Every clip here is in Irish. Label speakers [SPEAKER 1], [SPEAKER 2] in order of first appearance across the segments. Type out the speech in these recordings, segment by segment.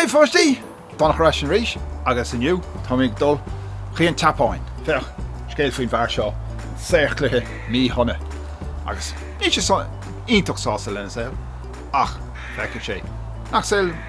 [SPEAKER 1] A pháistí! Donncha ar ais anseo arís agus inniu tá mé ag dul chuigh an tSeapáin. Féach, scéal faoin bhfear seo, saor cloiche míshona agus níl sé iontach sásta lena saol ach feicfidh sé nach saol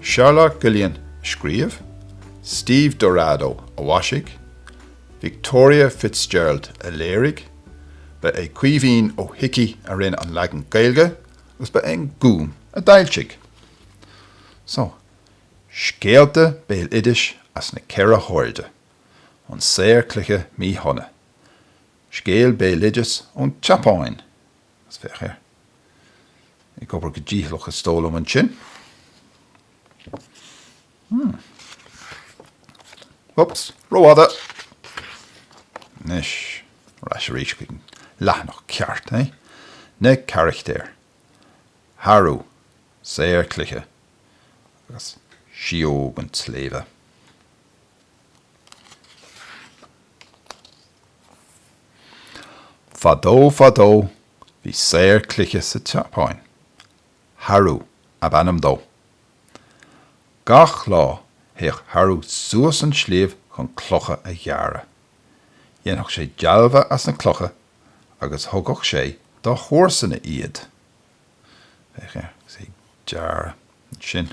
[SPEAKER 1] Charlotte Guillain a scríobh, Steve Dorado a mhaisigh, Victoria Fitzgerald a léirigh, ba é Caoimhín Ó hIcí a rinne an leagan Gaeilge agus ba é an Gúm a d'fhoilsigh. So, scéalta béaloidis as na ceithre hairde, an saor cloiche míshona, scéal béaloidis ón tSeapáin, Féach air ag obair go dícheallach is dóigh liom ansin. Huh. Oops, rófhada! Anois, ar ais arís chuig an leathanach ceart, eh? Na carachtair. Haru, saor cloiche, agus Sióg an tSléibhe. Fadó fadó, bhí saor cloiche sa tSeapáin. Haru ab ainm dó. Gach lá, théadh Haru suas an sliabh chun clocha a ghearradh. Dhéanfadh sé dealbha as na clocha agus thugadh sé dá chomharsana iad. Féach, agus é ag gearradh ansin.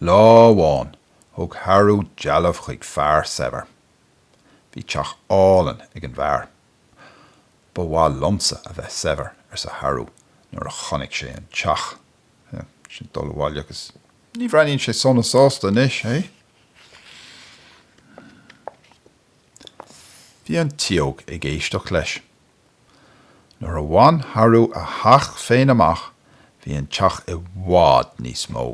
[SPEAKER 1] Lá amháin thug Haru dealbh chuig fear saibhir. Bhí teach álainn ag an bhfear. Ba mhaith liomsa a bheith saibhir, arsa Haru nuair a chonaic sé an teach. Sin é ag dul abhaile agus ní bhreathnaíonn sé sona sásta anois, hé? Bhí an tsióg ag éisteacht leis. Nuair a bhain Haru a theach féin amach bhí an teach i bhfad níos mó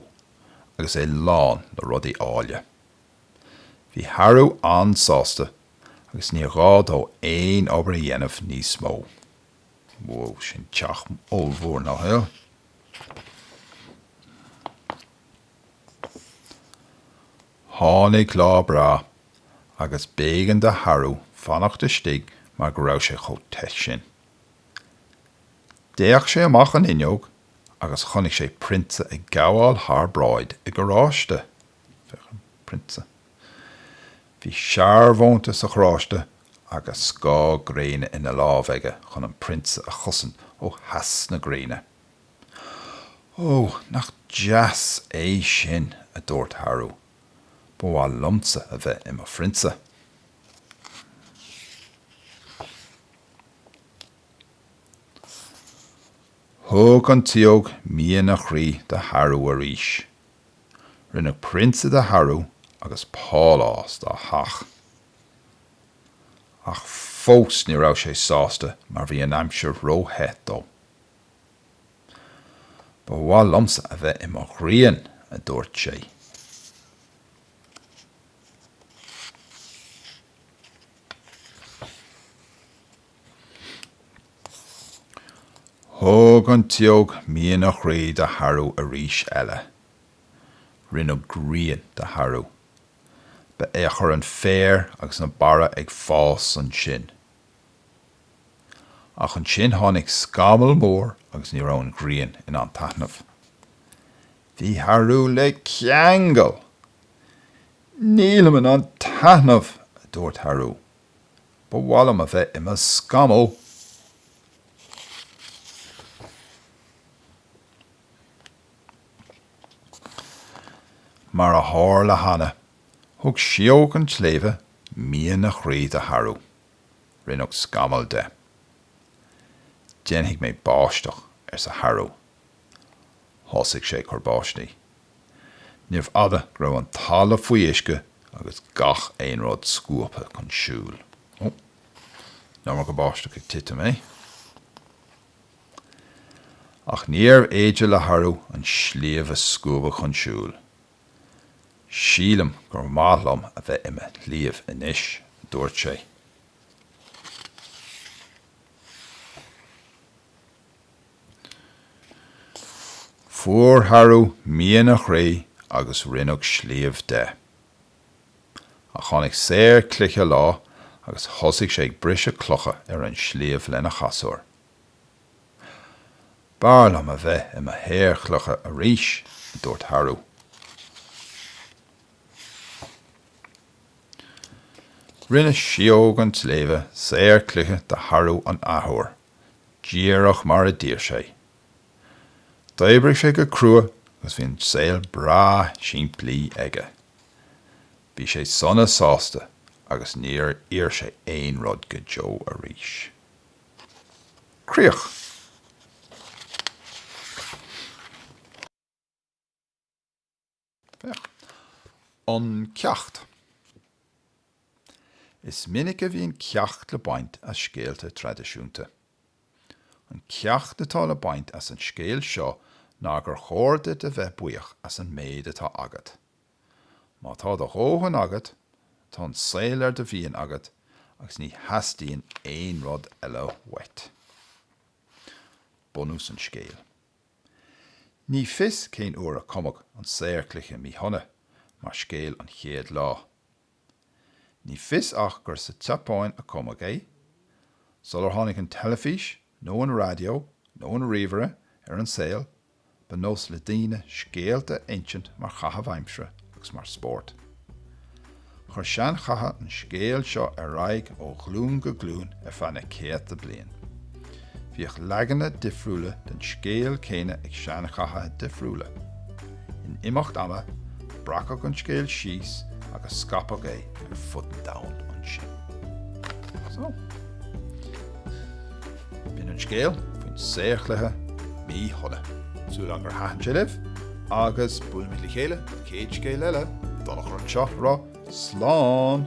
[SPEAKER 1] agus é lán le rudaí áille. Bhí Haru an-sásta agus níor ghá dó aon obair a dhéanamh níos mó. Whoa, sin teach ollmhór nach ea? Tháinig lá breá. agus b'éigean do Haru fanacht istigh mar go raibh sé chomh te sin. D'fhéach sé amach an fhuinneog agus chonaic sé Prionsa ag gabháil thar bráid i gcarráiste. Prionsa. Bhí searbhónta sa charráiste agus scáth gréine ina lámh aige chun an Prionsa a chosaint ó theas na gréine. Ó, nach deas é sin, a dúirt Haru. Ba mhaith liomsa a bheith i mo phrionsa. Thug an tsióg mian a chroí do Haru arís. Rinneadh prionsa de Haru agus pálás dá theach. Ach fós ní raibh sé sásta mar bhí an aimsir ró-the dó. Ba mhaith liomsa a bheith i mo ghrian, a dúirt sé. Thug an tsióg mian a chroí do Haru arís eile. Rinneadh grian de Haru. Ba é a chuir an féar agus na barra ag fás ansin. Ach ansin tháinig scamall mór agus ní raibh an ghrian in ann taitneamh. Bhí Haru le ceangal! Nílim in ann taitneamh! a dúirt Haru. Ba mhaith liom a bheith i mo scamall! Mar a tharla cheana, thug sióg an tsléibhe mian a chroí do Haru. Rinneadh scamall de. Déanfaidh mé báisteach, arsa Haru. Thosaigh sé ag cur báistí. Níorbh fhada go raibh an talamh faoi uisce agus gach aon rud scuabtha chun siúil. An iomarca báisteach ag titim, eh? Ach níorbh fhéidir le Haru an sliabh a scuabadh chun siúil. Sílim gur maith liom a bheith i mo shliabh anois, a dúirt sé. Fuair Haru mian a chroí agus rinneadh sliabh de. Ach tháinig saor cloiche lá agus thosaigh sé ag briseadh clocha ar an sliabh lena chasúr. B'fhearr liom a bheith i mo shaor cloiche arís, a dúirt Haru. Rinne Síóg an tSléibhe saor cloiche de Haru an athuair, díreach mar a d'iarr sé. D'oibrigh sé go crua agus bhí an saol breá simplí aige. Bhí sé sona sásta agus níor iarr sé aon rud go deo arís. Críoch. An ceacht. Is minic a bhíonn ceacht le baint as scéalta traidisiúnta. An ceacht atá le baint as an scéal seo ná gur chóir duit a bheith buíoch as an méid atá agat. Má tá do dhóthain agat, tá an saol ar do mhian agat agus ní theastaíonn aon rud eile uait. Bunús an scéil. Ní fios cén uair a cumadh an saor cloiche míshona mar scéal an chéad lá. Ní fios ach gur sa tSeapáin a cumadh é, sular tháinig an teilifís nó an raidió nó an ríomhaire ar an saol ba nós le daoine scéalta a insint mar chaitheamh aimsire agus mar spórt. Chuir seanchaithe an scéal seo ar aghaidh ó ghlúin go glúin ar feadh na céadta bliain. Bhíodh leagana difriúla den scéal céanna ag seanchaithe difriúla. In imeacht ama, breacadh an scéal síos agus scaipeadh é ar fud an domhain ansin. So. B'in an scéal faoin saor cloiche míshona. Súil agam gur thaitin sé libh agus buailfimid le chéile céad scéal eile. Donncha anseo ag rá slán!